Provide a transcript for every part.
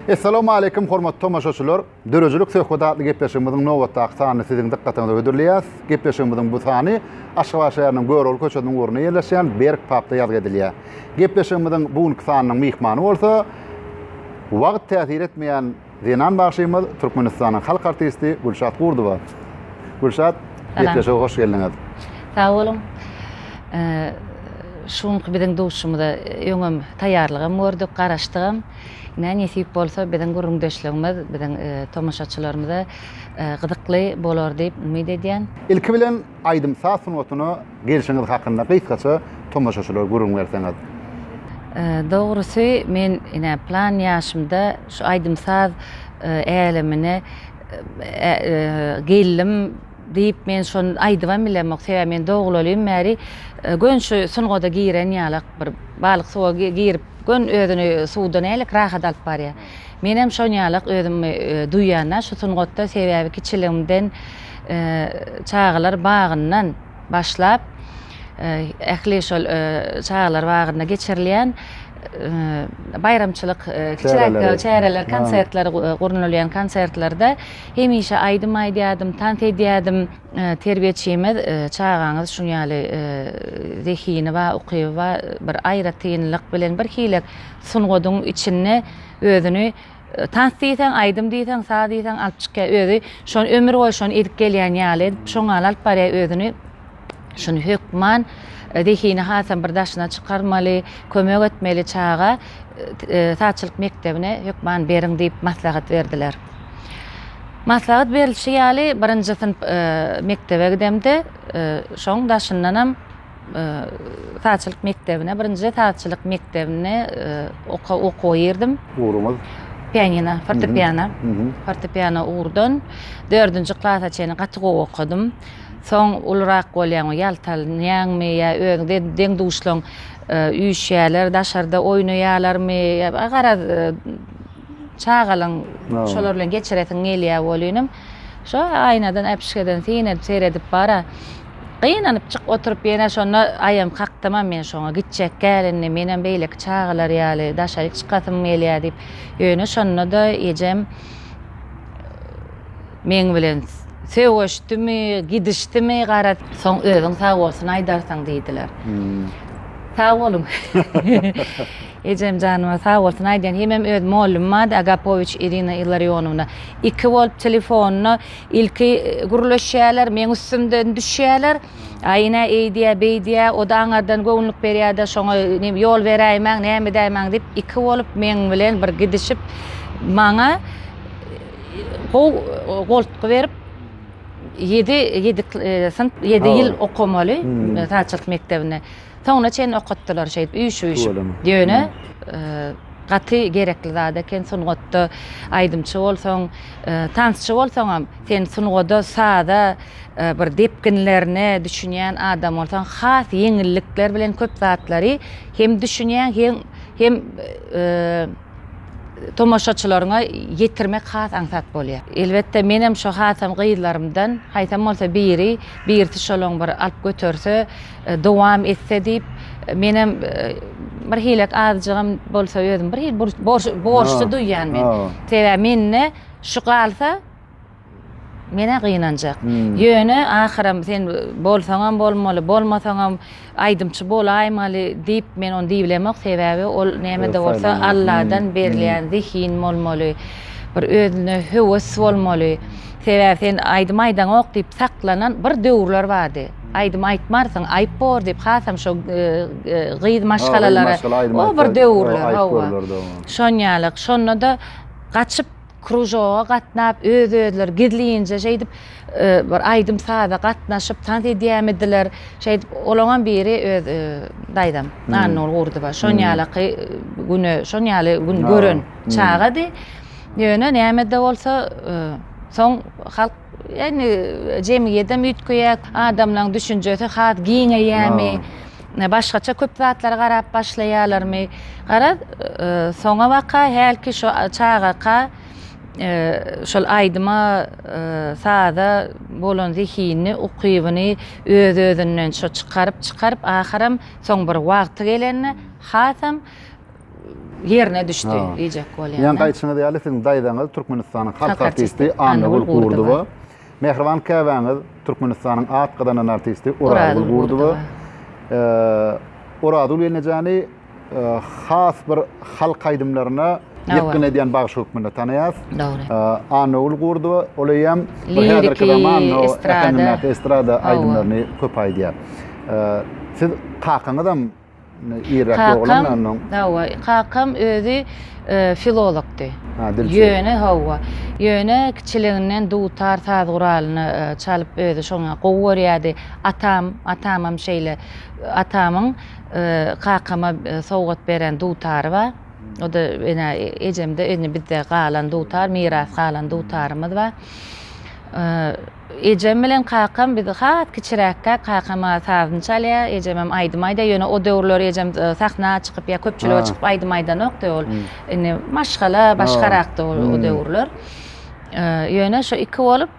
Essalamu aleýkum hormatly tomaşaçylar. Döredijilik söhbet atly gepleşigimiziň nobatdaky sanyny siziň dykgatyňyza hödürleýäs. Gepleşigimiziň bu sany Aşgabat şäheriniň Görogly köçesiniň ugrunda ýerleşýän Berk papda ýazgy edilýär. Gepleşigimiziň bu günki sanynyň myhmany bolsa wagt täsir etmeýän Zenan bagşymyz Türkmenistanyň halk artisti Gülşat Gurdowa. Gülşat, gepleşige hoş geldiňiz. Sag boluň. Şu günki biziň duşumyza öňem taýýarlygam gördük, garaşdygam. Ine, nesip bolsa, biziň gürrüňdeşligimiz biziň tomaşaçylarymyza gyzykly bolar diýip umyt edýän. Ilki bilen, Aýdym-saz sungatyna gelşiňiz hakynda gysgaça tomaşaçylara gürrüň berseňiz? Dogrusy, men ine, plan ýaşymda şu aýdym-saz älemine geldim diýip, men şony aýdybam bilemok. Sebäbi men dogulelin bäri göni şu sungata giren ýalak, bir balyk suwa girip, göni özüni suwda nälik rahat alyp barýar. Menem şonýalak özümi duýýan-a şu sungatda, sebäbi kiçiligimden çagalar bagyndan başlap, ähli şol çagalar bagynda geçirilýän baýramçylyk kiçiräk çäreler, konsertler gurnalýan konsertlerde hemişe aýdym aýdýardym, tans edýärdim. Terbiýeçimiz çagaňyz şunýaly zehini bar, ukyby bar, bir aýratynlyk bilen birhili sungatyň içinde özüni tans diýseň, aýdym diýseň, saz diýseň alyp çykýar. Özi şony ömür boýy şony edip gelýän ýaly edip, şoň ýaly alyp barýar özüni. Şuny hökman e, zehini hasam bir daşyna çykarmaly, kömek etmeli çaga e, e, sazçylyk mekdebine hökman beriň diýip maslahat berdiler. Maslahat berilişi ýaly birinji synp e, mekdebe gidemde, e, şoň daşyndanam Sazçylyk mekdebine, birinjide sazçylyk mekdebine okuwa girdim. Ugruňyz? Pianino, fortepiano. Fortepiano ugurdan dördünji klasa çenli gaty gowy okadym. Soň ulurak bolýaňmy, ýaltanýaňmy ýa özüňde deň-duşlaň üýşýärler, daşarda oýnaýarlarmy, garaz, çagalygyň şolar bilen geçiresiň gelýär welinem, şo aýnadan, äpişgeden synanyp, seredip bara. Gynanyp çyk oturyp ýene şonda aýam kakdymam men şoňa gitjek gälini menem beýleki çagalar ýaly daşaryk çykasym gelýä diýip ýöne şonda-da ejem meň bilen sögüşdimi gidişdimi gara soň özüň sag bolsun aýdarsyň diýdiler. Sag boluň. Ejem janyma sag bolsun aýdýan hemem öz mollymym ady Agapowiç Irina Illarionowna iki bolup telefonda Ilki gürleşýäler, meň üstümden düşýäler. Aýna eýdýä, beýdýä, o-da aňardan göwünlik berýä-de, şoňa nim, ýol beräýmäň, näme edäýmäň diýip, iki bolup meň bilen bir gidişip, maňa gow goltgy berip, ýedi, ýedi, e, synp, ýedi ýyl okamaly, e, taçylyk mekdebine. Soňuna çenli okatdylar şeýdip üýşüp-üýşüp. Ýöne gaty gerekli zat eken sungatda aýdymçy bolsaň, tansçy bolsaňam, sen sungada, saza bir depginlerine düşünýän adam bolsaň, has ýeňillikler bilen köp zatlary hem düşünýäň, hem hem tomaşaçylaryňa ýetirmek has aňsat bolýar. Elbetde menem şo hasam gyzlarymdan haýsam bolsa biri, birisi şolaň bir alyp göterse, dowam etse diýip, menem bir hilek azjygam bolsa özüm bir hil borçly duýýan men. Sebäbi mende şu galsa menä gynanjak. Ýöne ahyram sen bolsaňam bolmaly, bolmasaňam aýdymçy bolaýmaly diýip men ony diýibilemok. Sebäbi ol näme-de bolsa Alladan berilýän zehin bolmaly. Bir özüne höwes bolmaly. Sebäbi sen aýdym aýdaňok diýip saklanan bir döwürler bardy. Aýdym aýtmarsyň, aýyp bor diýip, hasam şo gyz maşgalalara, o bir döwürler, hawa. Şon ýaly, şonda-da gaçyp kružoga gatnap, öz-özleri gizlinje şeýdip, bir aýdym-saza gatnaşyp, tans edýämidiler, şeýdip, olaňam biri öz daýzam, Annaguly Gurdowa. Şon ýalyky güne, şon ýaly gün gören çagady. Ýöne näme-de bolsa, soň halk. Indi jemgyýedem üýtgeýär, adamlaryň düşünjesi has giňeýärmi, başgaça köp zatlara garap başlaýarlarmy? Garaz, soňabaka hälki şu çagaka şol aýdyma, saza bolan zehinini, ukybyny öz-özünden şo çykaryp-çykaryp, ahyram soň bir wagty gelende hasam ýerine düşdi diýjek bolýan. Ýaňky aýdyşyňyz ýaly siziň daýzaňyz Türkmenistanyň halk artisti Annagül Gurdowa. Mähriban käbäňiz Türkmenistanyň at gazanan artisti Orazgül Gurdowa. Orazgül gelnejani has bir halk aýdymlaryna ýetgin edýän bagşy hökmünde tanaýas. Dogry. Annagül Gurdowa ol eýýam häzirki zaman estrada aýdymlaryny köp aýdýar. Siz kakaňyzam Kakam, hawa, kakam özi filologdy. Ýöne, hawa, ýöne kiçiliginden dutar saz guralyny çalyp özi şoňa gowy görýärdi. Atam, atamam şeýle. Atamyň kakama sowgat beren dutary bar. O-da ene ejemde indi bizde galan dutar, miras galan dutarymyz bar. Ejem bilen kakam biz has kiçiräkkäk kakam sazyny çalýar, ejemem aýdym aýdýar. Ýöne o döwürler ejem sakna çykyp ýa köpçülige çykyp aýdym aýdanokdy. Ol indi maşgala başgarakdy o döwürler. Ýöne şo iki bolup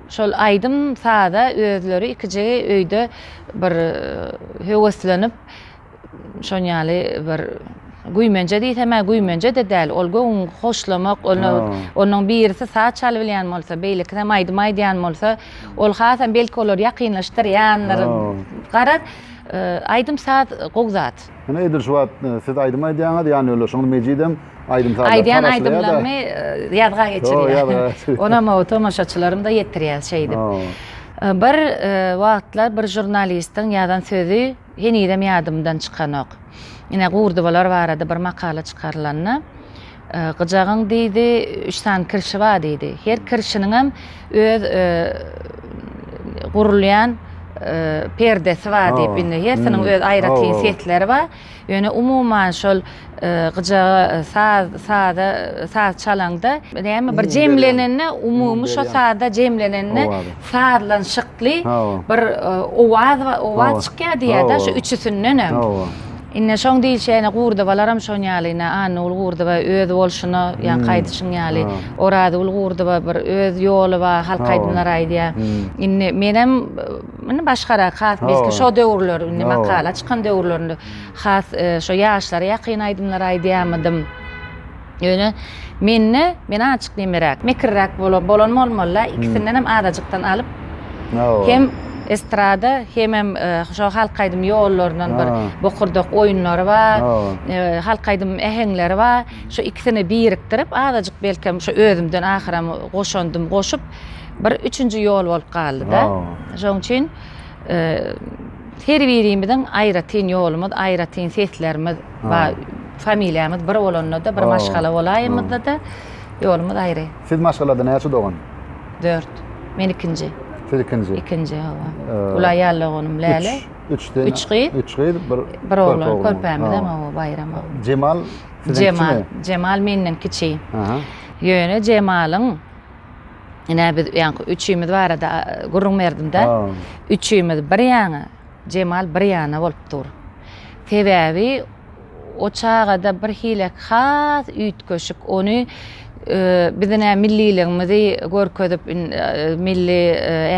şol aýdym saza özleri ikijigi öýde bir höweslenip Şoň ýaly bir güýmenje diýsem-ä güýmenje-de däl, ol göwün hoşlamak, ony onuň birisi saz çalybilýän bolsa, beýlekisem aýdym aýdýan bolsa, ol hasam belki olar ýakynlaşdyrýandyr. Garaz, aýdym-saz gowy zat. Ine, edil şu wagt siz aýdym aýdýaňyz, ýa ýöne şoňly Mejidem aýdym-saz aýdýar. Aýdýan aýdymlarymy ýazga geçirýär. Onam o tomaşaçylarym-da ýetirýär şeýdip. Bir wagtlar bir žurnalistiň ýazan sözi. Henizem ýadymdan çykanok. Ine, gurdubalar barada bir makala çykarylanda, Gyjagyň, diýdi, üç sany kirşi bar, diýdi. Her kirşiniňem öz gurulýan perdesi bar diýip, indi hersiniň öz aýratyn sesleri bar. Ýöne umuman şol Gyjaga saz saza saz çalaňda näme bir jemlenende umumy şo sazda jemlenende sazlanşykly bir owaz owaz çykýar diýýärda şu üçüsindenem. Indi şoň diýilşine Gurdybalaram şoň ýaly ine Annagül Gurdyba öz bolşuna ýa gaýdyşyň ýaly Orazgül Gurdyba bir öz ýoly bar halk aýdymlary aýdýar. Indi menem indi başgarak has belki şo döwürler indi makala çykan döwürlerinde Has şo ýaşlara ýakyn aýdymlar aýdýamydym. Ýöne mende men azajyk nemeräk, mekirräk bolan bolmaly-la, ikisindenem azajykdan alyp, hem estrada, hemem şo halk aýdym ýollaryndan bir bokurdak oýunlary bar, halk aýdym äheňleri bar. Şo ikisini birikdirip, azajyk belkem şo özümden ahyram goşandym goşup, bir üçünji ýol bolup galdy-da. Şoň üçin. Her birimiziň aýratyn ýolumyz, aýratyn seslerimiz bar. Familiýamyz bir bolanda-da, bir maşgala bolaýymyzda-da ýolumyz aýry. Siz maşgalada näçe dogan? Dört. Men ikinji. Siz ikinji? Ikinji, hawa. Gulaý ýaly doganym Läle. Üç. Üç gyz. Üç gyz, bir oglan. Bir oglan. Körpämizem, hawa, Baýram. Jemal siziň kiçimi? Jemal menden kiçi. Ýöne Jemalyň. Ine biz öýanky üçimiz barada gürrüň berdim-de. Üçimiz bir ýana, Jemal bir ýana bolup dur. Sebäbi o çagada bir hilek has üýtgeşik, ony biziň ä milliligimizi görkezip, milli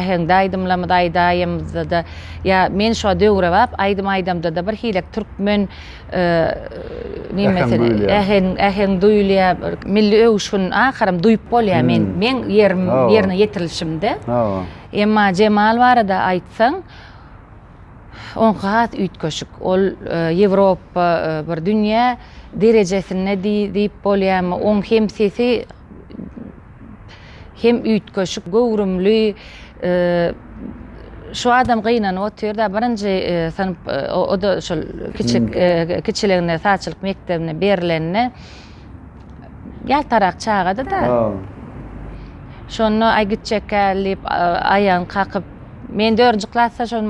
äheňde aýdymlarymyzy aýdaýymyzda-da ýa men şo döwrebap aýdym aýdamda-da bir hilek türkmen äheň duýulýar bir milli öwüşgin aharam duýup bolýar men meň ýerim ýerine ýetirilişimde emma jemal barada aýtsaň oňky has üýtgeşik ol ýewropa bir dünýä derejesinde diýip bolýarmy oň hem sesi hem üýtgeşik göwrümli şu adam gynanyp otyrda birinji synp o da şol kiçik kiçiliginde saçylyk mekdebine berilende ýaltarak çagady da şonda aý gitjekkä diýip aýagyny kakyp Men dördünji klasda şol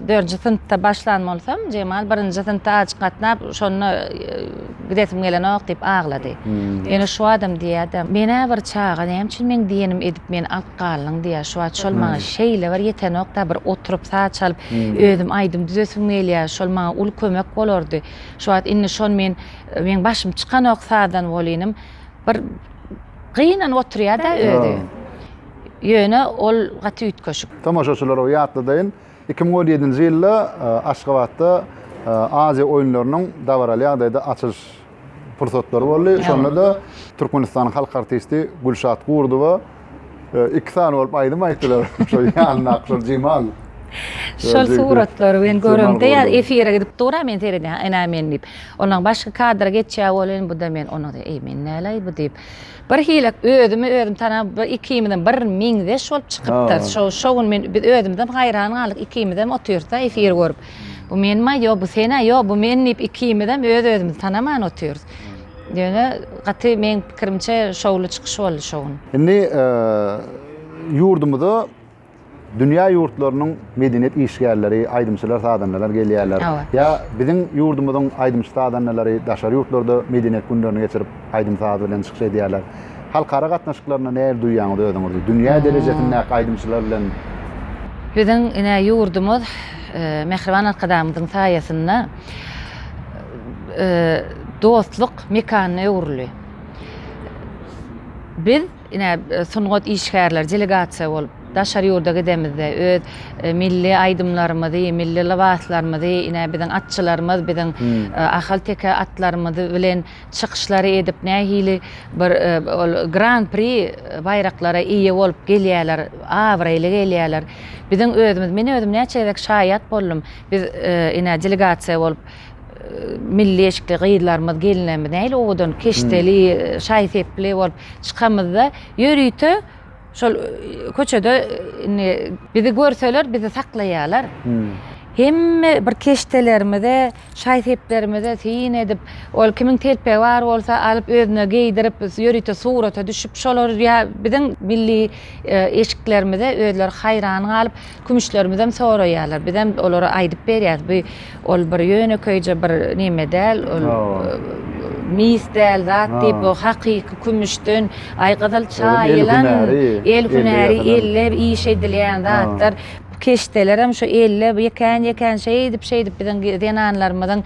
dördünji synpda başlan bolsam, Jemal birinji synpda azjyk gatnap, şonda e, gidesim gelenok diýip aglady. Hmm. Ýöne şu adam diýýärdi, menä bir çaga näme üçin meň diýenim edip meni alyp galdyň diýýär. Şu wagt şol maňa hmm. şeýle bir ýetenokda bir oturyp saç alyp, hmm. özüm aýdym düzesim gelýär. Şol maňa uly kömek bolardy. Şu wagt indi şon men meň başym çykanok sazdan bolynym. Bir gynanyp oturýar-da özi. Ýöne ol gaty üýtgeşik. Tomaşaçylara ýatladayyn, iki müň on ýedinji ýylda Aşgabatda Aziýa oýunlarynyň dabaraly ýagdaýda açylyş pursatlary boldy. Şonda-da Türkmenistanyň halk artisti Gülşat Gurdowa iki sany bolup aýdym aýtdylar. Şol ýanyndaky şol Jemal. Şol suratlary men göremde ýa efire gidip dur-a men seredýän, ene men diýip. Ondan başga kadra geçýär welin bu-da men ony, eý men näleý bu diýip. Bir hili özümi özüm tanap bir ikimizem bir meňzeş bolup çykypdyrys. Şo şo gün men biz özümizem haýran galdyk ikimizem otyrys-da efir görüp. Bu menmi ýok bu sen-ä ýok bu men diýip ikimizem öz özümizi tanaman otyrys. Ýöne gaty meň pikirimçe şowly çykyş boldy şo gün. Indi ýurdumyza dünýä ýurtlarynyň medeniýet işgärleri, aýdymçylar, sazandalar gelýärler. Ýa biziň ýurdumyzyň aýdymçy-sazandalary daşary ýurtlarda medeniýet günlerini geçirip, aýdym-saz bilen çykyş edýärler. Halkara gatnaşyklarynda nähili duýýaňyz özüňizi? Dünýä derejesindäki aýdymçylar bilen. Biziň ine ýurdumyz mähriban Arkadagymyzyň saýasynda dostluk mekanyna öwrüldi. Biz. Ine, sungat işgärleri delegasiýa bolup daşary ýurda gidemizde öz milli aýdymlarymyzy, milli lybaslarymyzy, ine, biziň atçylarymyz, biziň ahalteke atlarymyz bilen çykyşlary edip, nähili bir ol Gran-pri baýraklara eýe bolup gelýärler, abraýly gelýärler. Biziň özümiz, men özüm näçe gezek şaýat boldum. Biz, ine, delegasiýa bolup. milli eşikli gyzlarymyz, gelinlerimiz nähili owadan, keşdeli, şaý-sepli bolup çykamyzda, ýörite şol köçede indi bizi görseler, bizi saklaýarlar. Hemme bir keşdelerimize, şaý-seplerimize syn edip, ol kimiň telpegi bar bolsa, alyp özüne geýdirip, ýörite surata düşüp, şolar ýa biziň milli eşiklerimize özleri haýran galyp, Kümüşlerimizem soraýarlar. Bizem olara aýdyp berýäs. Bu ol bir ýönekeýje bir neme däl, ol mis däl zat diýip, o hakyky kümüşden aý gyzyl çaýylan, el hünäri, elle iş edilýän zatlar. Keşdelerem şu elle ýekän-ýekän şeýdip, şeýdip biziň zenanlarymyzyň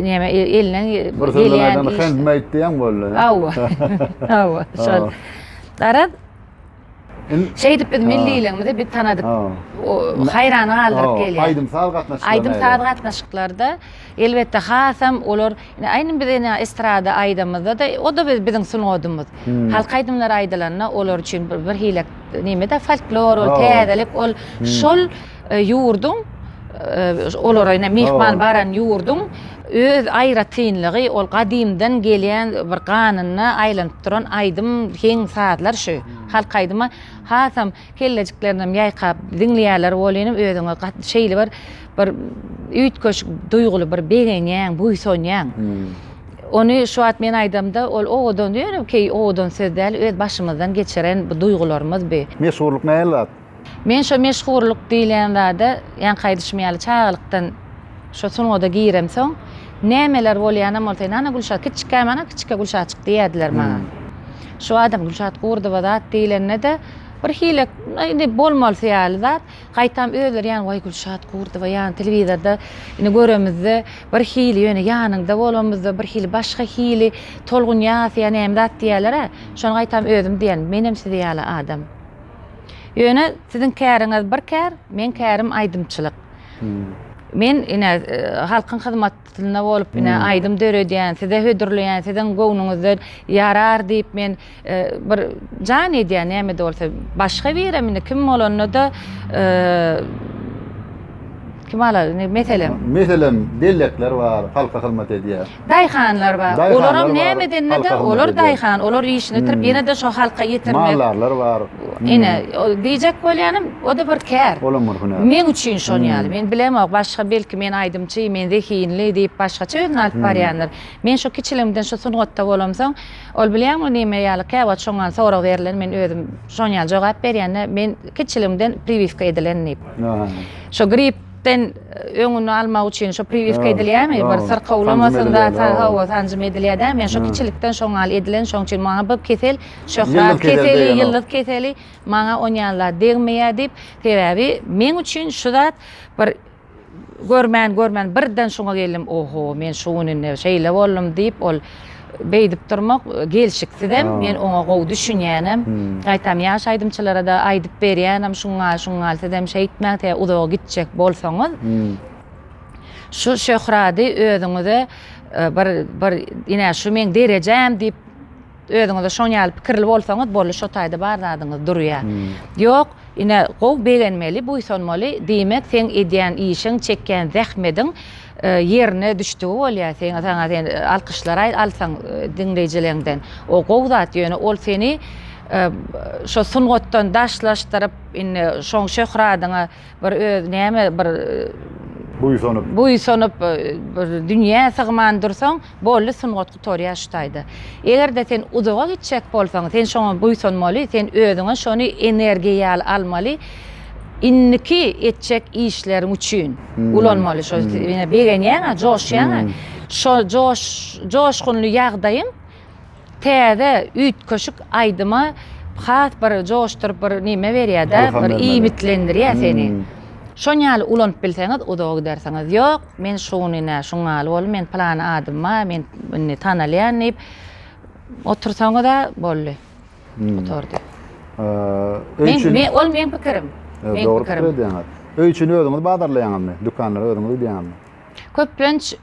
neme elinden gelýän iş. Handmade diýen boldy. Hawa, hawa, şol. Garaz. Şeýdip biz milliligimizi biz tanadyk. Haýran galdyryp gelýär. Aýdym-saz gatnaşyklary. Aýdym-saz gatnaşyklarda elbetde hasam olar aýdym biz ene estrada aýdymyzda-da o-da biziň sungadymyz. Halk aýdymlary aýdylanda olar üçin bir hile neme-de folklor ol täzelik ol şol Ýurduň olara ine myhman baran ýurduň öz aýratynlygy ol gadymdan gelýän bir ganyna aýlanyp duran aýdym heň sazlar şu halk aýdyma hasam kellejiklerinem ýaýkap diňleýärler welinem özüňe şeýle bir bir üýtgeşik duýguly bir begenýäň buýsanýaň ony şu wagt men aýdamda ol owadan ýöne keý owadan söz däl öz başymyzdan geçiren bu duýgularymyz bi. Meşhurlyk nähili zat? Men şo meşhurlyk diýlen zada ýaňky aýdyşym ýaly çagalykdan şo sungada giremsoň nämeler bolýanam bolsa ynana Gülşat kiçikäm ana kiçike Gülşatjyk diýerdiler maňa. Şu adam Gülşat Gurdowa zat diýlende-de bir hile indi bolmalysy ýaly zat gaýtam özleri ýan waý Gülşat Gurdowa ýan telewizorda indi göremizde bir hili ýöne ýanyňda bolamyzda bir hili başga hili tolgun ýasýa näme zat diýerler-ä şony gaýtam özüm diýen menem sizi ýaly adam. Ýöne siziň käriňiz bir kär, meň kärim aýdymçylyk. Hmm. Men ine e, halkyň hyzmatynda bolup ine hmm. aýdym döredýän, size hödürleýän, siziň göwnüňizden ýarar diýip men e, bir jan edýän näme de bolsa başga biri indi kim bolanda da e, kim alar meselem meselem bellekler bar halka hyzmat edýär Daýhanlar bar. Olaram näme edende-de, olar daýhan, olar işini bitirip, ýene-de şo halka ýetirmek. Maldarlar bar. Ine, diýjek bolýanym, o-da bir kär. Olam bir hünär. Meň üçin şon ýaly. Men bilemok, başga belki men aýdymçy, men zehinli diýip, başgaça özüni alyp barýandyr. Men şo kiçiligimden şu sungatda bolamsoň, ol bilýäňmi näme ýaly, käwagt şoňňan sorag berlen, men özüm şon ýaly jogap berýän-de, men kiçiligimden priwiska edilen diýip. Şo grip. Sen öňüni almak üçin şu priwiska edilýärmi? Bir syrka ulamasyn da, hawa, sanjym edilýär dä. Men şu kiçilikden şoň ýaly edilen, şoň üçin maňa bu kesel şöhrat keseli, ýyldyz keseli, maňa on ýaly zat degmeýär diýip, sebäbi meň üçin şu zat bir görmän, görmän birden şuňa geldim, oho, men şu gün indi şeýle boldum diýip, ol Beýdip durmak gelşiksizem, men oňa gowy düşünýänem. Gaýtam ýaş aýdymçylara-da aýdyp berýänem, şuň gal, şuň gal, sizem şeýtmäň, tä uzaga gitjek bolsaňyz, şu şöhrady özüňize bir, bir, ine, şu meň derejäm diýip, özüňize şoň ýaly pikirli bolsaňyz, boldy, şo taýda bar zadyňyz durýar. Ýok, ine, gowy begenmeli, buýsanmaly, diýmek, seň edýän işiň, çekýän zähmediň, Ýerine düşdügi bolýa seň saňa sen alkyşlar aý alsaň diňleýjileňden o gowy zat ýöne ol seni şo sungatdan daşlaşdyryp indi şoň şöhradyňa bir öz näme bir buýsanyp buýsanyp bir dünýä sygman dursaň Boldy sungat gutarýar şu taýda. Eger-de sen uzaga gitjek bolsaň, sen şoňa buýsanmaly, sen özüňe şony energiýa ýaly almaly, indiki etjek işleriň üçin ulanmaly. Şo begenýäň-ä, joşýaň-a. Şo joşgunly ýagdaýyň Täze üýtgeşik aýdyma has bir joşduryp bir neme berýär-de, bir iýmitlendirýär seni. Şon ýaly ulanyp bilseňiz uzaga gidersiňiz. Ýok, men şuny nä şuň ýaly boldum, men pylany adym bar, men indi tanalýan diýip otursaňyz-a boldy. Gutardy. Öý üçin. Men, ol meň pikirim. Dogry pikir edýäňiz. Öý üçin özüňiz bazarlaýaňyzmy? Dükanlara özüňiz gidýäňizmi? Köplenç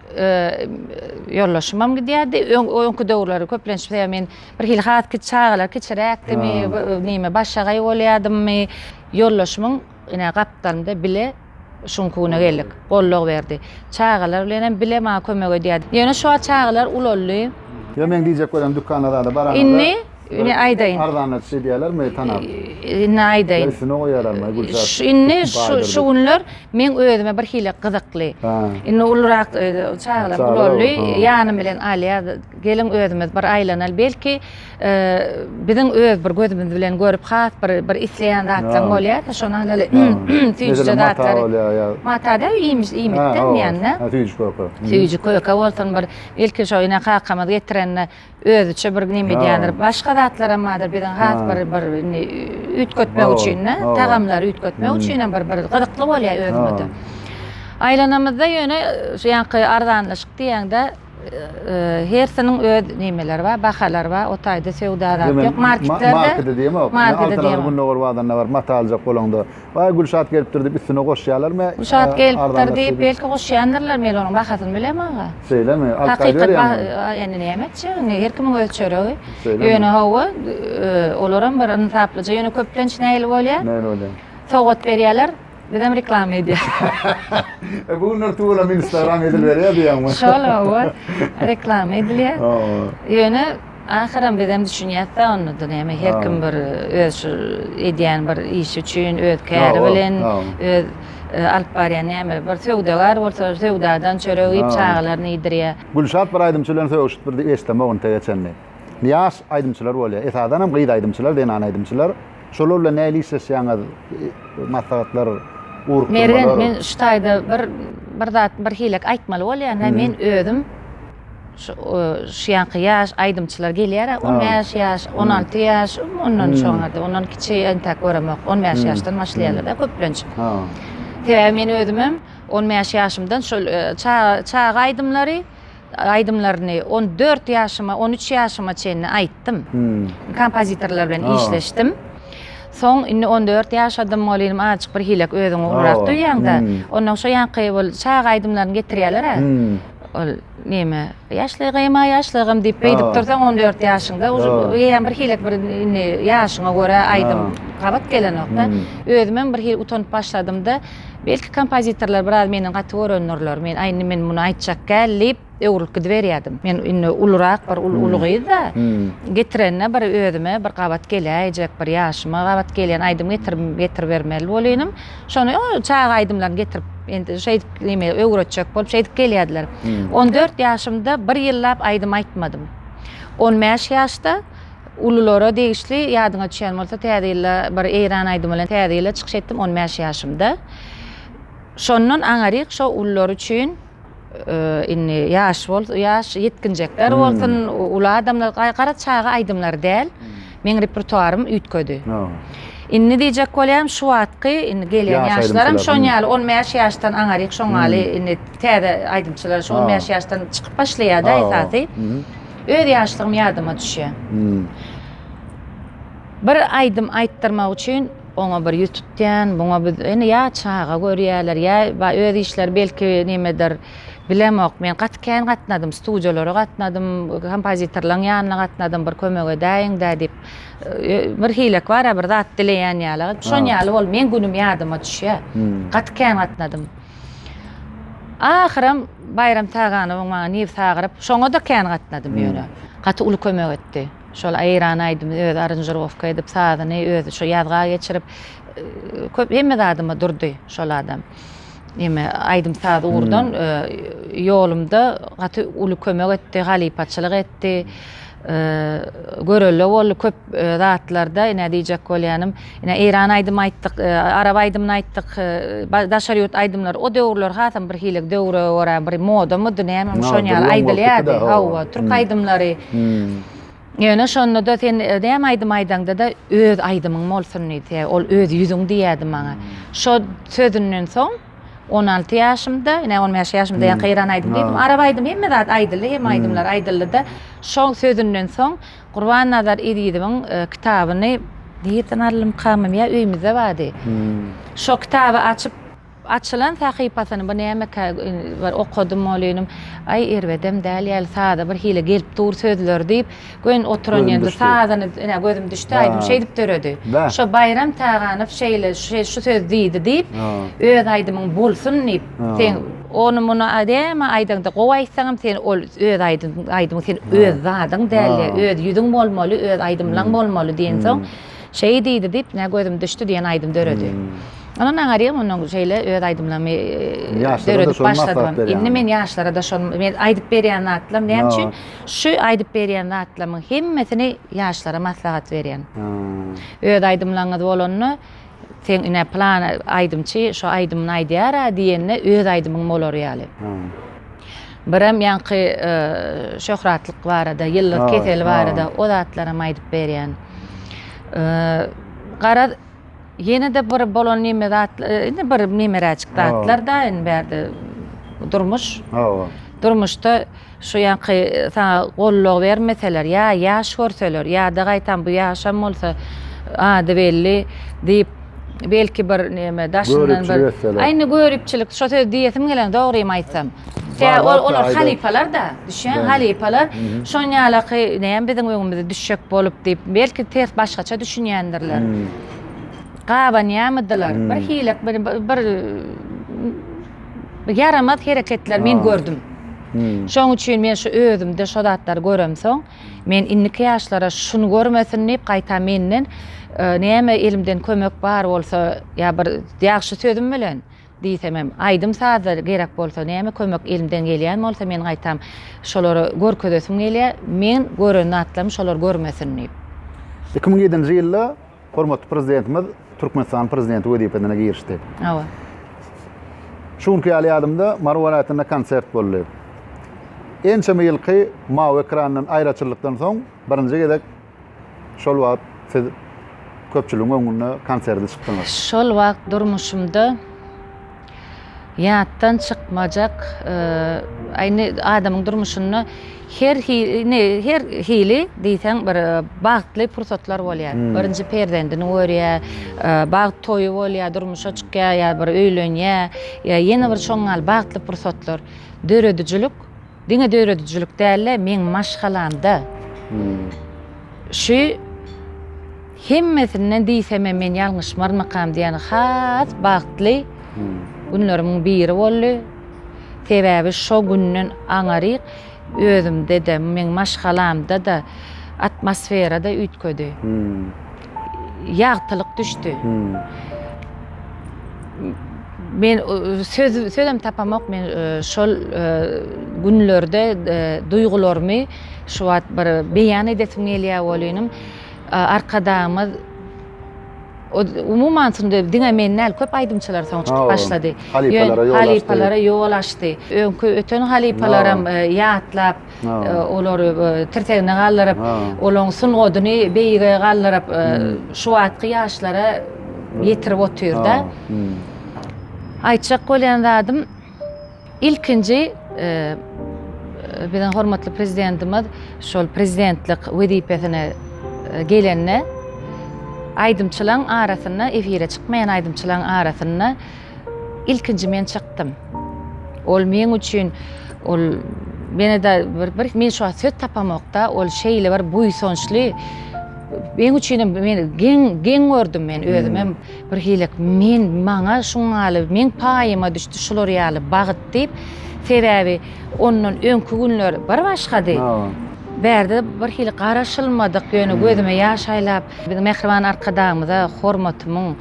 ýoldaşymam gidýärdi. Öňki döwürleri köplenç bize men bir hili has kiçi çagalar kiçiräkdimi, näme başagaý bolýadymmy, ýoldaşymyň ine gapdalynda bile şuň güne geldik. Goldaw berdi. Çagalar bilen hem bile maňa kömek edýärdi. Ýöne şu wagt çagalar ulaldy. Ýa meň diýjek welem dükana zada baranyňda. Indi ine aýdaýyn. Arzana düşýär diýýärlermi tanap? Indi aýdaýyn. Üstüne goýýarlarmy gülzar? Indi şu günler Men özüme bir hile gyzykly. Indi ulurak e, çagalar ulaldy. Ýanym bilen Aliýa gelin özümiz bir aýlanal. Belki e, biziň öz bir gözümiz bilen görüp has bir bir isleýän zatlaryň bolýar. Şonuň ýaly süýjüde zatlar. Mata da iýmiş iýmikden ýanda. Süýjü köke. Süýjü köke bolsun bir. Belki şo ýene kakamyz getirende Özüçe bir neme edýändir. Başga zatlaram bardyr biziň has bir bir indi üýtgetmek üçin-de, tagamlary üýtgetmek üçinem bir bir gyzykly bolýar özüňe-de. Aýlanamyzda ýöne şu ýaňky arzanlaşyk diýende hersiniň öz nemeleri bar, bahalary bar. O taýda söwda zat ýok. Marketlerde markete diýemok. Markete diýemok. Gündogar bazarynda baryp mata aljak bolaňda, Baý Gülşat gelipdir diýip üstüne goşýalarmy? Gülşat gelipdir diýip belki goşýandyrlar, men onuň bahasyny bilem aga. Şeýlemi? Alyp gaýdyberýärmi? Indi näme etjek? Her kimiň öz çöregi. Ýöne hawa, olaram bir ynsaplyja, ýöne köplenç nähili bolýar? Nähili bolýar? Sowgat berýärler, bizem reklama edýäris. Bu günler tüweleme instagram edilberýär diýýäňmi? Şol hawa, reklama edilýär. Ýöne Ahyram bizem düşünýäs da onda da näme her kim bir öz şu edýän bir işi üçin öz käri bilen öz alyp barýan näme bir söwdagar bolsa söwdadan çörek iýip çagalaryny iýdirýär. Gülşat bir aýdymçy bilen sögüşip bir diýip eşdemok intege çenli. Ýaş aýdymçylar bolýar. Esasanam gyz aýdymçylar zenan aýdymçylar. Şolar bilen näli işleşýäňiz maslahatlar urupdyrmalar. Mergen men şu taýda bir bir zat bir hilek aýtmaly bolýan men özüm. Şu şu ýanky ýaş aýdymçylar gelýär, on bäş ýaş, on alty ýaş, ondan çonady, ondan kiçi entäk göremok, on bäş ýaşdan başlaýarlar-da köplenç. Sebäbi men özümem on bäş ýaşymdan şol çaga aýdymlary, aýdymlaryny on dört ýaşyma, on üç ýaşyma çenli aýtdym. Kompozitorlar bilen işleşdim. Soň indi on dört ýaşadym, ol ýelim azajyk bir hilek özüňi ulurak duýýaň-da, ondan şo ýanky ol çaga aýdymlaryny getirýärler-ä. Ol neme ýaşlygym-a ýaşlygym diýip beýdip dursaň on dört ýaşyňda uje eýýäm bir hilek bir indi ýaşyňa görä aýdym gabat gelenokda. Özümem bir hili utanyp başladymda belki kompozitorlar biraz menden gaty görendurlar men aý indi men muny aýtjak däl diýip öwrülip gidiberýädim. Men indi ulurak bir uly gyzda getirende bir özüme bir gabat geläýjek bir ýaşyma gabat gelýän aýdym getiribermeli bolynym. Şony o çaga aýdymlaryny getirip, indi şeýdip neme öwretjek bolup şeýdip gelýärdiler. 14 hmm. ýaşymda bir ýyllap aýdym aýtmadym. 15 ýaşda ululara degişli ýadyňa düşýän bolsa täze ýylda bir eýran aýdymy bilen täze ýyla çykyş etdim 15 ýaşymda. Şondan aňaryk şo ulular üçin indi ýaş bol ýaş ýetginjekler bolsun uly adamlar gara çaga aýdymlary däl meň repertuarym üýtgedi indi diýjek bolýarym şu wagtky indi gelýän ýaşlaram şoň ýaly on bäş ýaşdan aňaryk şoň ýaly indi täze aýdymçylar şu on bäş ýaşdan çykyp başlaýarda esasy öz ýaşlygym ýadyma düşýär bir aýdym aýtdyrmak üçin Oňa bir ýüz tutýan, buňa bir, indi ýa çaga görýärler, ýa bar öz işleri belki nimedir, bilemok. Men gaty kän gatnadym, studiýalara gatnadym, kompozitorlaryň ýanyna gatnadym, bir kömek edäýiň-dä diýip, bir hilek bar-a, bir zat dileýän ýaly. Şon ýaly bolup, meň günüm ýadyma düşýär. Gaty kän gatnadym. Ahyram Baýram Taganowyň maňa nebsi agyryp, şoňa-da kän gatnadym ýöne. Gaty uly kömek etdi. Şol Aýran aýdymy özi aranžirowka edip, sazyny özi şo ýazga geçirip, köp hemme zadyma durdy şol adam. Ýeme aýdym-saz ugurdan ýolumda gaty uly kömek etdi, halypaçylyk etdi. Görelde boldy köp zatlarda, ine diýjek bolýanym, Ine, eýran aýdymy aýtdyk, arap aýdymyny aýtdyk, daşary ýurt aýdymlary. O döwürler hasam birhili döwre görä bir modamydy, nämemi şon ýaly aýdylýardy. Hawa, türk aýdymlary. Ýöne şonda-da sen näme aýdym aýdaňda-da öz aýdymyň bolsun diýdi. Ol öz ýüzüň diýýärdi maňa. Şo sözünden soň on alty ýaşymda, ine, on bäş ýaşymda ýaňky eýran aýdymy diýdim. Arap aýdymy hemme zat aýdyldy, hemme aýdymlar aýdyldy-da, şo sözünden soň, Gurbannazar Ezizowyň kitabyny nirden aldymkam ýa öýmüzde bardy. Şo kitaby açyp açylan sahypasyny bu nämekä bir okadym ol inim. Aý erbedem däl ýaly sada bir hili gelip dur sözleri diýip göýn oturan ýerinde sazyny ine gözüm düşdi aýdym şeýdip döredi. Şo Baýram Taganow şeýle şu söz diýdi diýip öz aýdymyň bolsun diýip sen Ony muny adäme aýdaňda gowy aýtsaňam sen ol öz aýdymyň sen öz zadyň dälde öz ýüzüň bolmaly öz aýdymlaň bolmaly diýensoň şeý diýdi diýip nä gözüm düşdi diýen aýdym döredi. Ondan aňarýan onuň şeýle öz aýdymlarymy döredip başladym. Indi men ýaşlarada şon men aýdyp berýän zatlam näme üçin şu aýdyp berýän zatlamyň hemmesini ýaşlara maslahat berýän. Öz aýdymlaňyz bolanda Sen ine plan aýdymçy şo aýdymyny aýdýara diýende öz aýdymyň bolar ýaly. Birem ýaňky şöhratlyk barada, ýyldyz keseli barada o zatlaram aýdyp berýän. Garaz ýene de bir bolan neme zat indi bir nemeräjik zatlar da indi bärde durmuş. Durmuşda Şu ýaňky saňa gollag bermeseler, ýa ýaş görseler, ýa-da gaýtam bu ýaşam bolsa, ady belli diýip, belki bir näme daşyndan bir. Göripçilik etseler. Aýna göripçilik, şo sözi diýesim gelen, dogrymy aýtsam. Tä ol, olar halypalar-da, düşýäň, halypalar. Şon ýalaky näme biziň öňümize düşjek bolup diýip, belki ters başgaça düşünýändirler. Gabanýamydylar, bir hile, bir, bir, ýaramaz hereketler men gördüm. Şoň üçin men şu özümde şo zatlary göremsoň, men indiki ýaşlara şuny görmesin diýip, gaýtam menden näme elimden kömek bar bolsa, ýa bir ýagşy sözüm bilen diýsem hem, aýdym-sazda gerek bolsa, näme kömek elimden gelýän bolsa, men gaýtam şolara görkezesim gelýär, men gören zatlarymy şolar görmesin diýip. Iki müň ýedinji ýylda Hormatly Prezidentimiz Türkmenistanyň Prezidenti wezipesine girişdi. Hawa. Şu günki ýaly ýadymda Mary welaýatynda konsert boldy. Ençeme ýylky mawy ekrandan aýraçyllykdan soň birinji gezek şol wagt siz köpçüligiň öňünde konserde çykdyňyz. Şol wagt durmuşymda Ýatdan çykmajak ine adamyň durmuşynda her hili her hili diýseň bir bagtly pursatlar bolýar. Birinji perzendini görýär, bagt toýy bolýar, durmuşa çykýar ýa bir öýlenýär ýa ýene bir şoňňal bagtly pursatlar. Döredijilik. Diňe döredijilik däl-de, meň maşgalamda şu hemmesinden diýsemem men ýalňyşmarmykam diýen has bagtly günlerimiň biri boldy. Sebäbi şo günden aňaryk özümde-de, meň maşgalamda-da atmosfera-da üýtgedi. ýagtylyk düşdi. Men söz sözem tapamok men şol günlerde duýgularymy şu wagt bir beýan edesim gelýär welin arkadagymyz umuman şunda diňe men däl köp aýdymçylar soň çykyp başlady. Halypalara ýol açdy. Halypalara ýol açdy. Öňki öten halypalaram ýatlap olary tirsegine galdyryp, olaryň sungatyny beýige galdyryp, şu wagtky ýaşlara ýetirip otyr-da. Aýtjak bolýan zadym, ilkinji biziň hormatly Prezidentimiz şol prezidentlik wezipesine gelende, aýdymçylaryň arasynda, efire çykmaýan aýdymçylaryň arasynda, Ilkinji men çykdym. Ol meň üçin ol menede bir bir men şu wagt söz tapamokda, ol şeýle bir buýsançly meň üçin hem men geň geň gördüm men özüm hem hmm. bir hili men maňa şuňaly meň paýyma düşdi şular ýaly bagyt diýip sebäbi ondan öňki günler bir başgady. Bärde bir hili garaşylmadyk ýöne hmm. gözüme ýaş aýlap, biziň mähriban arkadagymyza hormatymyň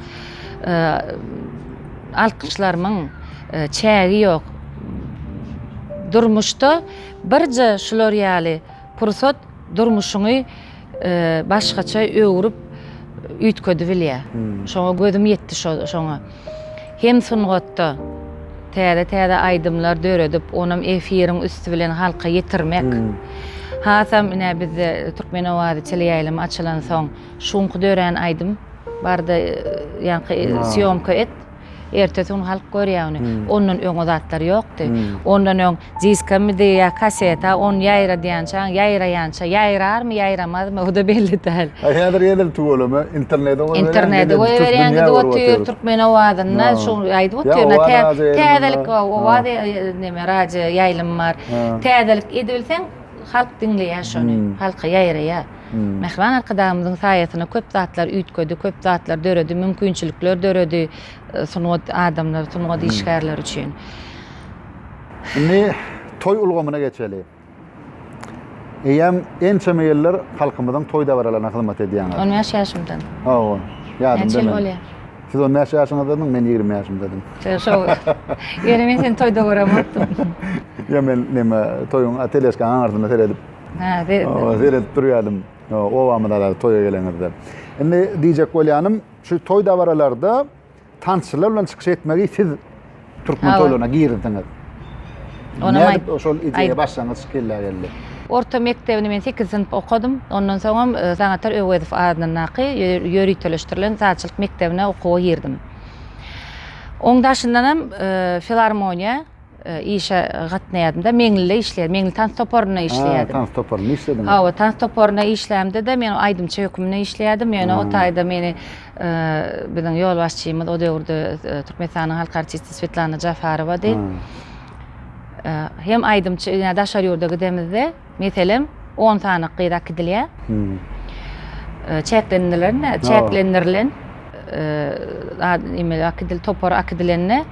alkyşlarymyň çägi ýok. Durmuşda birje şular ýaly pursat durmuşyňy başgaça öwrüp üýtgedibilýär. Şoňa gözüm ýetdi şoňa. Hem sungatda täze-täze aýdymlar döredip, onam efiriň üsti bilen halka ýetirmek. Hasam ine bizde Türkmen owazy teleýaýlymy açylansoň, Şu günki dörän aýdym barda ýaňky syýomka et. Ertesi gün halk görýär ony. Ondan öň o zatlar ýokdy. Ondan öň diskamidi ýa kaseta ony ýaýradýança, ýaýraýança, ýaýrarmy, ýaýramazmy o-da belli däl. A häzir edil tüweleme internete goýberýän. Internete goýberýän gidip otyr, türkmen owazynda şu aýdyp otyr. Täzelik owaz neme radio ýaýlym bar. Täzelik edibilseň halk diňleýär şony, halka ýaýraýar. Mähriban Arkadagymyzyň saýasynda köp zatlar üýtgedi, köp zatlar döredi, mümkinçilikler döredi sungat adamlary, sungat işgärleri üçin. Indi toý ulgamyna geçeli. Eýýäm ençeme ýyllar halkymyzyň toý dabaralaryna hyzmat edýäňiz. On bäş ýaşymdan. Hawa, ýadymda. Näçe ýyl bolýar? Siz on bäş ýaşyňyzdadyň, men ýigrimi ýaşymdadym. Şo. Ýöne men seni toýda göremokdym. Ýa men neme, toýuň teleskaň aňyrsynda seredip, Hä, seredip. Seredip durýardym. Obamyza dagy toýa gelenizde. Indi diýjek bolýanym, şu toý dabaralarda tansçylar bilen çykyş etmegi siz türkmen toýlaryna girizdiňiz. Onam aýt. Şol ideýa başlangyç kellä geldi. Orta mekdebini men 8 synp okadym. Ondan soňam e, Sanatar Öwezow adyndaky ýöriteleşdirilen sazçylyk mekdebine okuwa girdim. Oň daşyndanam e, filarmoniýa Işe gatnaýardym-da, Meňlide işleýärdim. Meňli tans toparynda işleýärdim. Tans toparynda işlediňiz. Hawa, tans toparynda işlämde-de men aýdymçy hökmünde işleýärdim. Ýöne o taýda meni biziň ýolbaşçymyz o döwürde Türkmenistanyň halk artisti Swetlana Jafarowady. Hem aýdymçy, ýa daşary ýurda gidemizde, Meselem, on sany gyz akidilýär. Çäklendilen, çäklendirilen akidil topar akidilende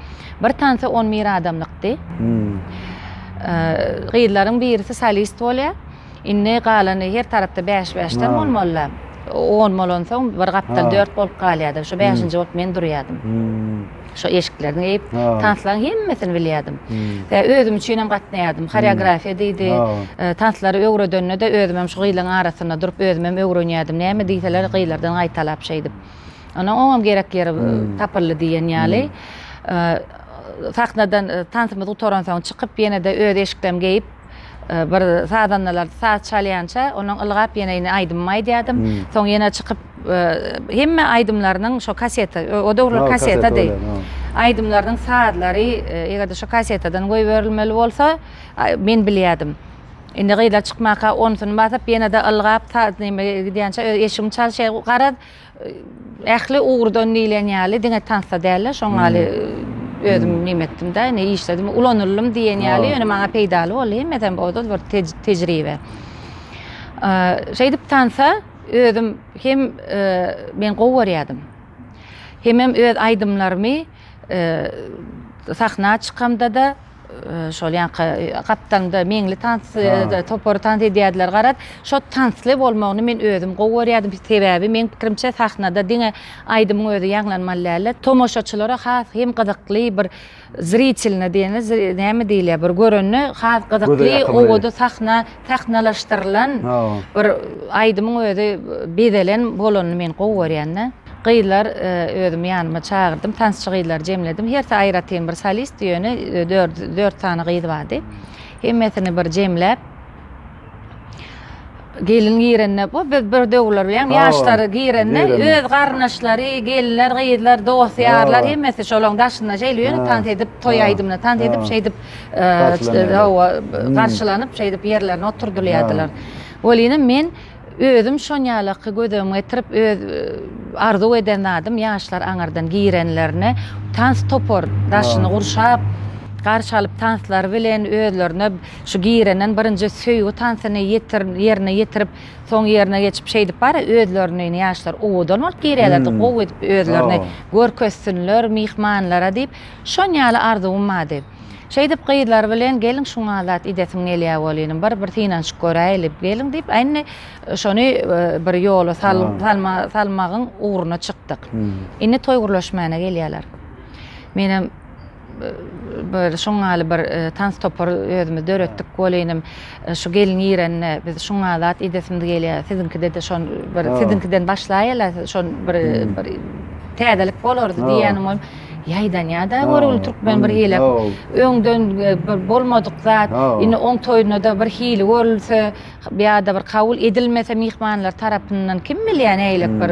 bir tansa on bir adamlykdy. Gyzlaryň birisi solist bolýar. Indi galany her tarapda bäş-bäşden bolmalylar. On bolansoň bir gapdal dört bolup galýardy. Şu bäşinji bolup men durýardym. Şo eşiklerini geyip, tanslaryň hemmesini bilýärdim. Ve özüm üçin hem gatnaýardym. Horeografiýa diýdi. E, tanslary öwredende de özüm hem şu gyzlaryň arasynda durup özüm hem öwrenýärdim. Näme diýseler gyzlardan gaýtalap şeýdip. Ondan oňam gerek ýeri e, tapyldy diýen ýaly. E, sahnadan e, tansymyz gutaransoň çykyp ýene-de öz eşiklerimi geýip Bir sazandalar saz çalýança, onuň ylgap ýeneýini aýdymymy aýdýardym. Soň ýene çykyp, hemme aýdymlarynyň şo kaseta, o döwürler kasetadyr. Aýdymlarynyň sazlary, eger-de şo kasetadan goýberilmeli bolsa, men bilýärdim. Indi gyzlar çykmaka, onsunu basyp, ýene-de ylgap, ta neme gidýänçä, eşigimi çalşy garaz, Ähli ugurdan diýlen ýaly diňe tansda däl-de, şoň ýaly özüm näme etdim-de, indi işledim, ulanyldym diýen ýaly, ýöne maňa peýdaly boldy, hemmesem ozal bir tejribe. Şeýdip tansa özüm hem men gowy görýärdim. Hemem öz aýdymlarymy sahna çykamda-da, Şol ýanka gapdaňda meňli tans topary tans edýärdiler garaz. Şo tansly bolmagyny men özüm gowy görýärdim. Sebäbi meň pikirimçe sahnada diňe aýdymyň özi ýaňlanmaly däldi. Tomaşaçylara has hem gyzykly bir zritelne diýeni näme diýilýär bir görende has gyzykly owadan sahna sahnalaşdyrylan bir aýdymyň özi bezelen bolanyny men gowy görýän-de. Gyzlar özüm ýanyma çagyrdym, tansçy gyzlary jemledim. Hersi aýratyn bir solistdi, ýöne dört sany gyz bardy. Hemmesini bir jemläp, gelin girende, bu biz bir döwürler bilýän, ýaşlary girende, öz garyndaşlary, gelinler, gyzlar, dost-ýarlar hemmesi şolaryň daşynda şeýle ýöne tans edip, toý aýdymyna tans edip, şeýdip. garşylanyp şeýdip ýerlerine oturdylýardylar. Welinem men özüm şonýalaky gözegime getirip öz arzuw eden zadym ýaşlar aňyrdan girenlerine tans topar daşyny gurşap garşy alyp tanslary bilen özlerine şu girenden birinji söýgi tansyny ýerine ýetirip soň ýerine geçip şeýdip bar özlerini ýaşlar owadan bolup girýärlerdi gowy edip özlerini görkezsinler myhmanlara diýip Şon ýaly arzuwym bardy. Şeýdip gyzlar bilen gelin şuňa zat idesim gelýä welin bir bir synanyşyp göräýli gelin diýip indi şony bir ýola salmagyň ugruna çykdyk. Indi toý gurlaşmana gelýäler. Menem bir şoň ýaly bir tans topary özümiz döretdik welinim şu gelin girende biz şuňa zat idesimiz gelýä siziňkide-de şon bir siziňkiden başlaýala şon bir bir täzelik bolardy diýýänim. Ýaýdan ýada görgüli türkmen bir hili öňden bir bolmadyk zat indi oň toýunda-da bir hili görülse ýada bir kabul edilmese myhmanlar tarapyndan kim bilýä nägilek bir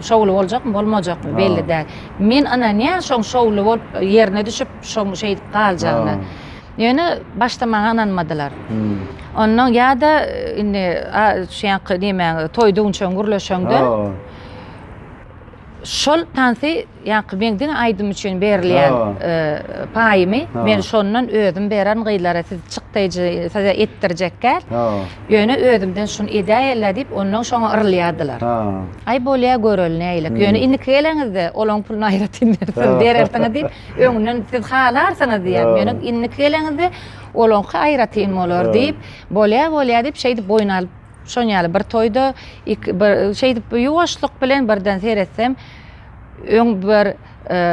şowly boljakmy bolmajakmy belli däl men ynanýan şoň şowly bolup ýerine düşüp şoň şeýdip galjagyna ýöne başda maňa ynanmadylar onnoň ýada indi şu ýaňky nemäň toý düwünçegiň gürleşeňde şol tansy Ýaňky meň diňe aýdym üçin berilýän paýymy men şondan özüm bererin gyzlara siz çykdaýjy size etdirjekgäl ýöne özümden şuny edäýeler diýip ondan şoňa yrylýardylar aý bolýa göreli näilik ýöne indiki geleňizde olaň puluny aýratyn berseň berersiňiz diýip öňden siz halarsyňyz diýýär ýöne indiki geleňizde olaňky aýratyn bolar diýip bolýa bolýa diýip şeýdip boýun alyp Şoň ýaly bir toýda ik bir şeýdip ýuwaşlyk bilen birden seretsem, öň bir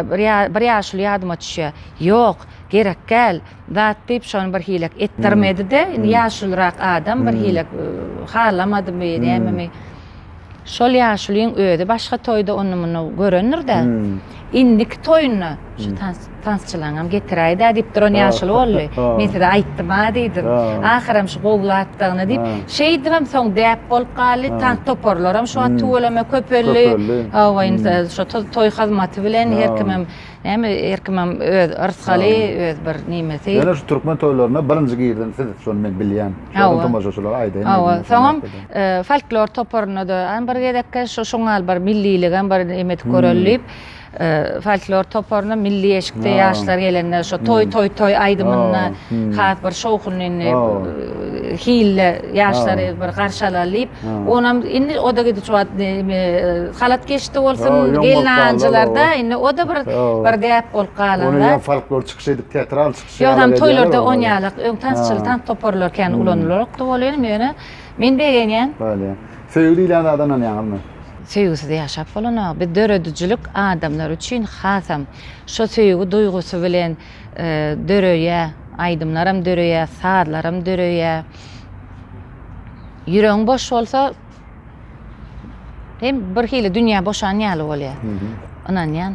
bir ýa bir ýaşuly ýadyma düşýär. Ýok, gerekgäl zat diýip, şony bir hilek etdirmedi-de, indi ýaşulyrak adam bir hilek halamadymy, nämemi, şol ýaşulyň özi başga toýda ony-muny görendir-de, indiki toýunda şu tans Tansçylaňam getiräý-dä diýip duran ýaşuly boldy. Men size aýtdym-a diýdim. Ahyram şu gowy zatdygyny diýip, şeýdibem soň däp bolup galdy. Tans toparlaram şu wagt tüweleme köpeldi. Hawa, indi şu toý hyzmaty bilen her kimem, näme, her kimem öz rysgaly, öz bir nimesi. Ýöne şu türkmen toýlaryna birinji girden siz, şony men bilýän. Şonda tomaşaçylara aýdaýyn diýdim. Hawa, soňam folklor toparyna-da, aý, bir gezekkä şu şuňal bir milliligem bir neme edip göreli diýip. Folklor toparyna milli eşikde ýaşlar gelende şo toý toý toý aýdymyny has bir şowhunly hilde ýaşlary bir garşy alaly diýip onam indi oda gidiş wagt halat geçdi bolsun gelnanjylarda indi oda bir bir däp bolup galan ony ýa folklor çykyş edip teatral çykyş ýa ýa toýlarda on ýalak öň tansçyly tans toparlar kän ulanylarokdy bolýan ýöne men begenýän. Söýgi diýilýän zada ynanýaňyzmy? Söýgüsiz ýaşap bolanok. Biz döredijilik adamlar üçin hasam şo söýgi duýgusy bilen döreýär. Aýdymlaram döreýär, sazlaram döreýär. Ýüregiň boş bolsa hem bir hili dünýä boşan ýaly bolýar. Ynanýan.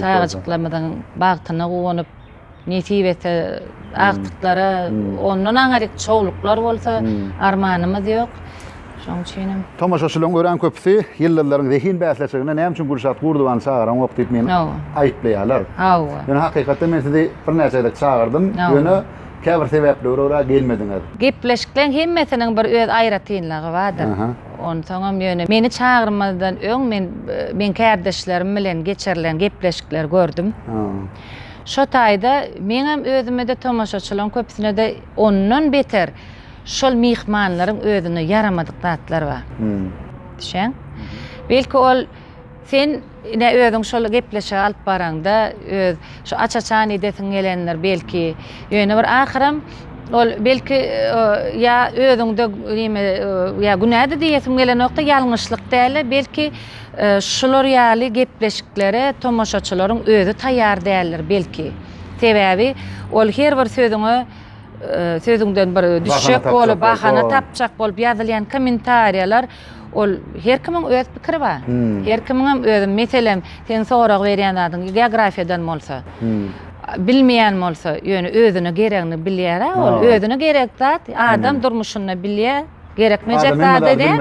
Çagajyklarymyzyň bagtyna guwanyp, nesip etse, agtyklara ondan aňryk çogluklar bolsa, armanymyz ýok. Şonuň üçinem. Tomaşaçylaryň örän köpüsi ýyldyzlaryň zehin bäsleşiginde näme üçin Gülşat Gurdubany çagaraňok diýip meni aýyplaýarlar. Hawa. Ýöne hakykatda men sizi birnäçe gezek çagyrdyň. Ýöne. Käbir sebäplere görä gelmediňiz. Gepleşikleň hemmesiniň bir öz aýratynlygy bardyr. Onsoňam ýöne meni çagyrmazdan öň men meň kärdeşlerim bilen geçirilen gepleşikleri gördüm. Şo taýda meňem özüme-de tomaşaçylaryň köpüsine-de ondan beter şol myhmanlaryň özüne ýaramadyk zatlar bar. Düşeň. Belki ol sen Ine, özüň şol gepleşigi alyp baraňda, öz şu aç-açan edesiň gelendir, belki, ýöne bir ahyram ol, belki, ýa özüňde neme, ýa günädi diýesim gelenokda, ýalňyşlyk däl-de, belki, şular ýaly gepleşiklere tomaşaçylaryň özi taýýar däldir, belki. Sebäbi ol her bir sözüňe, sözüňden bir düşjek bolup, bahana tapjak bolup ýazylýan kommentariýalar, Ol her kimiň öz pikiri bar. Her kimiňem özüm meselem sen sorag berýän zadyň geografiýadan bolsa. Bilmeýän bolsa, ýöne özüne geregini bilýär-ä ol. Özüne gerek zat adam durmuşynda bilýär. Gerekmejek zady däl.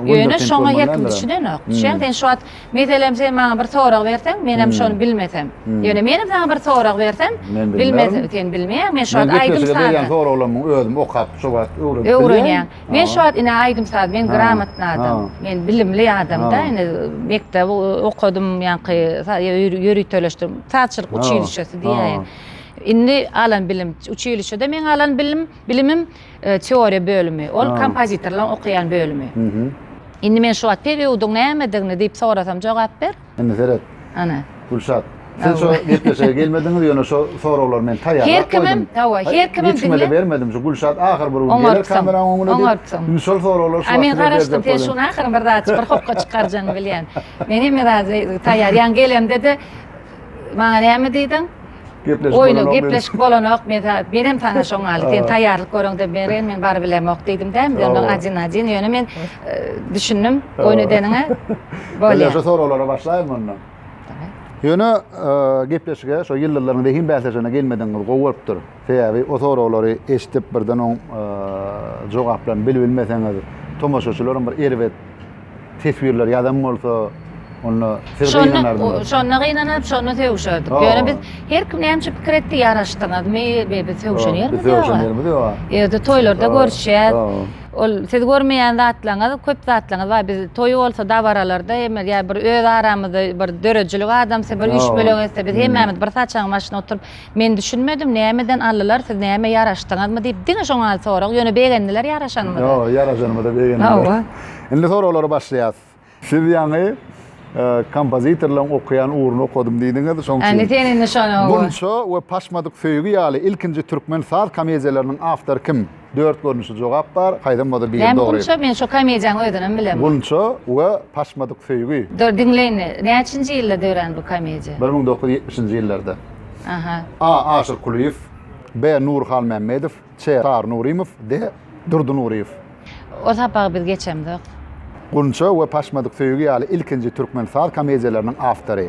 Ýöne şoňa her kim düşünenok. Düşýäňmi sen şu wagt? Meselem sen maňa bir sorag berseň, men hem şony bilmesem. Ýöne men hem saňa bir sorag bersem, bilmesem, sen bilmeýäň. Men şu wagt aýdym sazy. Berýän soraglarymy özüm okap şu wagt öwrenip bilýän. Öwrenýän. Men şu wagt ine aýdym saz, men gramatny adam. Men bilimli adamda, ine mekdep okadym, ýaňky ýöriteleşdim. Sazçylyk uçilişesi diýäýin. Indi alan bilim, uçilişede meň alan bilim, bilimim. Teoriýa bölümi. Ol kompozitorlaryň okaýan bölümi. Indi men şu wagt pebiudyň nämedigini diýip sorasam jogap ber. Indi seret. Ana. Gülşat. Siz şo gepleşige gelmediňiz ýöne şo soraglary men taýýarlap goýdum. Her kimem, hawa, her kimem. Hiç kimede bermedim. Şu Gülşat ahyr bir gün geler kameranyň öňüne. Oňartsaň. Indi şol soraglary şu wagt. Men garaşdym sen şuny ahyryny bir zat bir hokga çykarjagyňy bilýän. Men hemme zady taýýar. Ýa gelemde-de maňa näme diýdiň? Gepleşip bolanok. Oýna gepleşip bolanok. Men sana benem sana şoň ýaly. Sen taýýarlyk görüňde beren men baryp bilemok diýdim dä. Indi ondan ajin ajin ýöne men düşündim oýun edeniňe. Bolýar. Ýa şu soraglara başlaýmyň onda? Ýöne gepleşige şo ýyldyzlaryň zehin bäsleşigine gelmedigiňiz gowy bolupdyr. Sebäbi o soraglary eşidip birden oň jogaplaryny bilip bilmeseňiz tomaşaçylaryň bir erbet teswirler ýazan bolsa, onda siz gynanardyňyz. Şonda gynanyp, şonda sögüşerdik. Ýöne biz her kim näme pikir etdi, ýaraşdyňyzmy, biz sögüşen ýerimiz ýok. Sögüşen ýerimiz ýok. Ýerde toýlarda görüşýär. Ol siz görmeýän zatlaryňyz, köp zatlaryňyz bar. Biz toý bolsa dabaralarda hem ýa bir öz aramyzda bir döredijilik adamsy bir üýşmeleň etse, biz hemmämiz bir saçagyň başynda oturyp, Men düşünmedim, nämeden aldylar, siz näme ýaraşdyňyzmy diýip, diňe şoň al sorag, ýöne begendiler ýaraşanymyza. Ýok, ýaraşanymyza begendiler. Hawa. Indi soraglary başlaýas. Siz ýaňy kompozitorlaryň okaýan ugruny okadym diýdiňiz, şoň üçin. Indi sen indi şony owa. Bunça we Paşmadyk söýgi ýaly ilkinji türkmen saz komediýalarynyň awtory kim? Dört görnüşli jogap bar, haýsam bolsa biri Näme dogry. Gunça? Men şo komediýanyň özünem bilemok. Gunça we paşmadyk söýgi. Dur, diňleýin. Näçinji ýylda dörän bu komediýa? Bir müň dokuz ýüz ýetmişinji ýyllarda. Aha. A. Aşyr Kulyýew, B. Nury Halmämmedow, Ç. Çary Nurymow, D. Durdy Nuryýew. O sapagy biz geçemzok. Gunça we paşmadyk söýgi ýaly ilkinji türkmen saz komediýalarynyň awtory.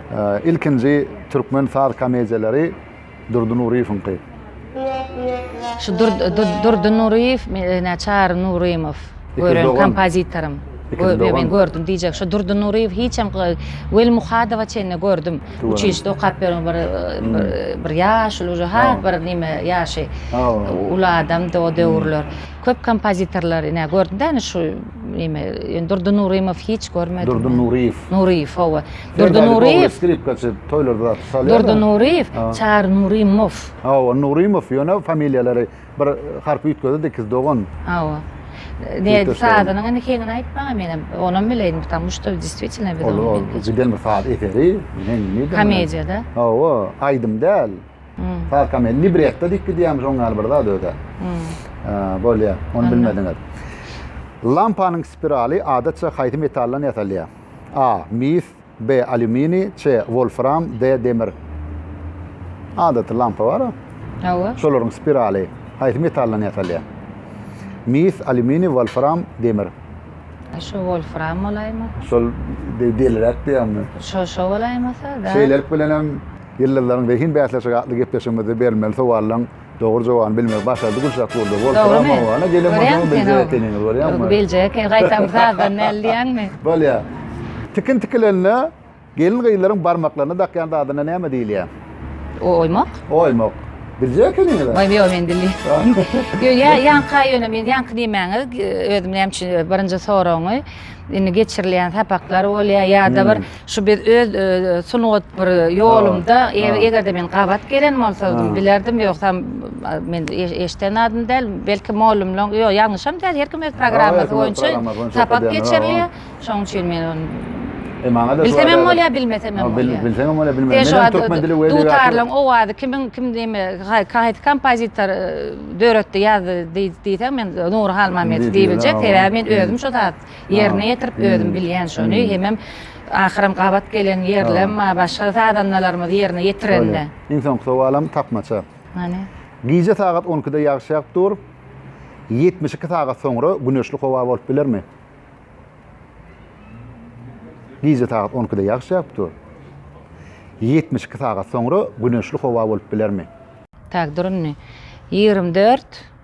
Ilkinji türkmen saz komediýalary Durdy Nuryýewiňki. Şu Durdy Nuryýew, ine Çary Nurymow, gören kompozitorym. Men gördüm diýjek, şu Durdy Nuryýew hiç hem Weli Muhadowa çenli gördüm. Uçilişde okap ýören bir bir ýaşuly uje ha bir nime ýaşy uly adamdy o döwürler. Köp kompozitorlar ine gördüm-dä ine şu nime. Ýöne Durdy Nurymow hiç görmedim. Durdy Nuryýew. Nuryýew, hawa. Durdy Nuryýew. Skripkaçy toýlarda zat çalýar. Durdy Nuryýew, Çary Nurymow. Hawa, Nurymow, ýöne familiýalary bir harp üýtgedi dikiz dogan. Hawa. Ne sazynyň indi heňini aýtmaga menem, onam bileýdim, ptamu şto diswitielno biz ony bildik. Giden bir saz eseri, heňini. Komediýada. Hawa, aýdym däl. Saz komediýa, libretto diýip gidýärmiş, oň ýaly bir zat özä. Bolýar, ony bilmediňiz. Lampanyň spiraly adatça haýsy metaldan ýasalýar? A. Mis B. Alýuminiý C. Wolfram D. Demir Adaty lampa bar a. Hawa. Şolaryň spiraly haýsy metaldan ýasalýar? Mis, alýuminiý, wolfram, demir. Şo wolfram bolaýma. Şol deý deliräk diýýäňmi? Şo şo bolaýmasa, da. Şeýlelik bilenem Ýyldyzlaryň zehin bäsleşigi atly gepleşigimizde berilmeli sowallaň Dogry jogany bilmegi başardy Gülşah Gurdow. Bol Dogrymy? Gelen Görýäňmi sen biljek ekeniňiz, görýäňmi? Ýok, biljek, gaýtam sazdan näl diýýäňmi? Bolýar. Tikin tikilende gelin-gyzlaryň barmaklaryna dakýan zadyna näme diýilýär? O oýmak. Oýmak. Biljek ekeniňiz. Oý, ýok, men bilýän. Ýo, ýa, ýaňka ýöne men ýaňky diýmäňiz, özüm näme üçin birinji soragyňy indi geçirilýän sapaklar bolýar ýa-da bir Şu biz öz sungat bir ýolumda eger-de men gabat gelen bolsadym bilerdim ýogsam men eşden zadym däl belki mollumlaň ýok ýalňyşam däl her kim öz programmasy boýunça sapak geçirilýär şoň üçin men ony Bilsemem bolýar, bilmesemem bolýar. Bilsemem bolýar, bilmesemem. Şu türkmen dili we dutarlaryň owazy kimin kim diýme, haýsy kompozitor döretdi, ýazdy diýseň men Nury Halmamedow diýip biljek. Sebäbi men özüm şu zat Ýerine ýetirip özüm bilýän şony hemem ahyram gabat gelen ýerlem bar başga sazandalarymyz ýerine ýetirende. Iň soňky sowalam tapmaça. Hany. Gije sagat on ikide ýagyş ýagyp dur, ýetmiş iki sagat soňra güneşli howa bolup bilermi? Gije sagat on ikide ýagyş ýagyp dur, ýetmiş iki sagat soňra güneşli howa bolup bilermi? Tak dur indi. Ýigrimi dört.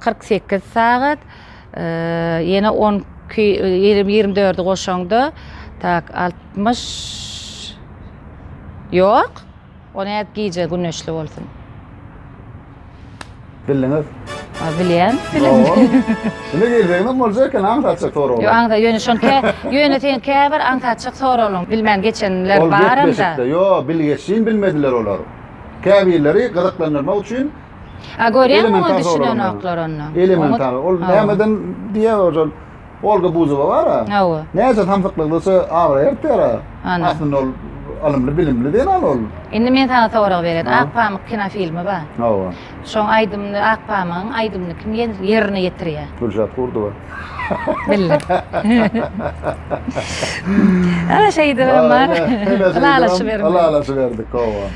kyrk sekiz sagat, ýene on iki, ýigrimi dördi goşaňda, tak, altmyş, ýok, o nädip gije güneşli bolsun? Bildiňiz? A, bilýän. Indi geljeginem boljak eken, aňsatjak soraglar. Ýok, aňsa, ýöne şony kä, ýöne sen käbir aňsatjak soraglaryň bilmän geçenler Ol barym-da. gepleşikde, ýok, bilgeşlin bilmediler olar. Käbirleri gyzyklandyrmak üçin A görýäňmi oňa düşünenoklar onda. Elementar. Ol nämeden diýýär oja Olga Buzowa bar-a. Hawa. Näçe samsyklygydysa abraý artýar-a. Aslynda ol ylymly, bilimli zenan ol. Indi men saňa sorag berýän. Ak pamyk kinofilmi bar. Hawa. Şoň aýdymyny Ak pamygyň aýdymyny kim ýerine ýetirýär? Gülşat Kurdowa. Bildim. Ana şeýdibem bar. Ylalaşyberdik. Ylalaşyberdik, hawa.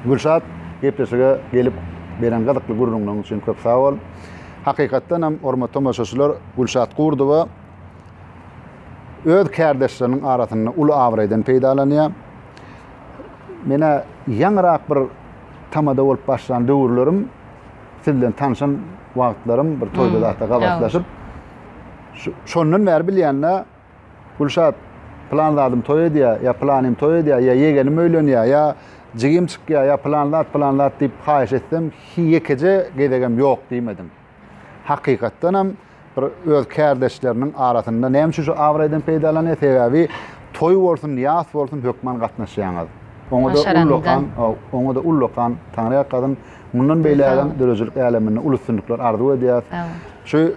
Gülşat gepleşige gelip beren gyzykly gürrüňiň üçin köp sag bol. Hakykatdan hem hormatly tomaşaçylar Gülşat Gurdowa öz kärdeşleriniň arasynda uly abraýdan peýdalanýar. Menä ýaňyrak bir tamada bolup başlan döwürlerim siz bilen tanşan wagtlarym bir toýda zatda gabatlaşyp şondan bäri bilýände Gülşat, Plan zadym toý edýär, ýa planym toý edýär, ýa ýegenim öýlenýär, ýa jigim çykýar, ýa plan zat, plan zat diýip haýyş etsem, hiý ýekeje gezegem ýok diýmediň. Hakykatdanam bir öz kärdeşleriniň arasynda näme üçin şu abraýdan peýdalanýar? Sebäbi toý bolsun, ýas bolsun hökman gatnaşýaňyz. Oňa-da ullakan, oňa-da ullakan Taňryýalkasyn, mundan beýlägem döredijilik äleminde uly üstünlikler arzuw edýäs. Şu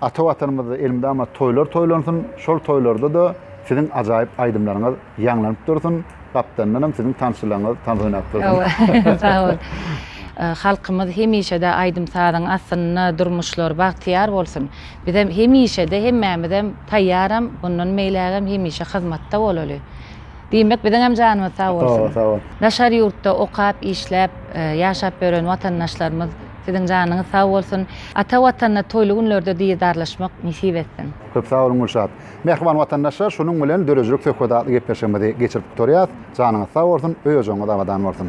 Ata Watanymyzda elmydama toýlar toýlansyn, şol toýlarda-da siziň ajaýyp aýdymlaryňyz ýaňlanyp dursun, gapdandanam siziň tansçylaryňyz tans oýnap dursun. Sag bol. Halkymyz hemişe-de aýdym-sazyň astynda, durmuşlary bagtyýar bolsun. Bizem hemişe-de hemmämizem taýýaram, mundan beýlägem hemişe hyzmatda bolaly. Diýmek biziňem janymyz sag bolsun. Sag bol, sag bol. Daşary ýurtda okap, işläp, ýaşap ýören watandaşlarymyz siziň janyňyz sag bolsun. Ata Watanda toýly günlerde didarlaşmak nesip etsin. Köp sag boluň Gülşat. Mähriban watandaşlar şunuň bilen döredijilik söhbet atly gepleşigimizi geçirip gutarýas. Janyňyz sag bolsun, öý ojagyňyz abadan bolsun.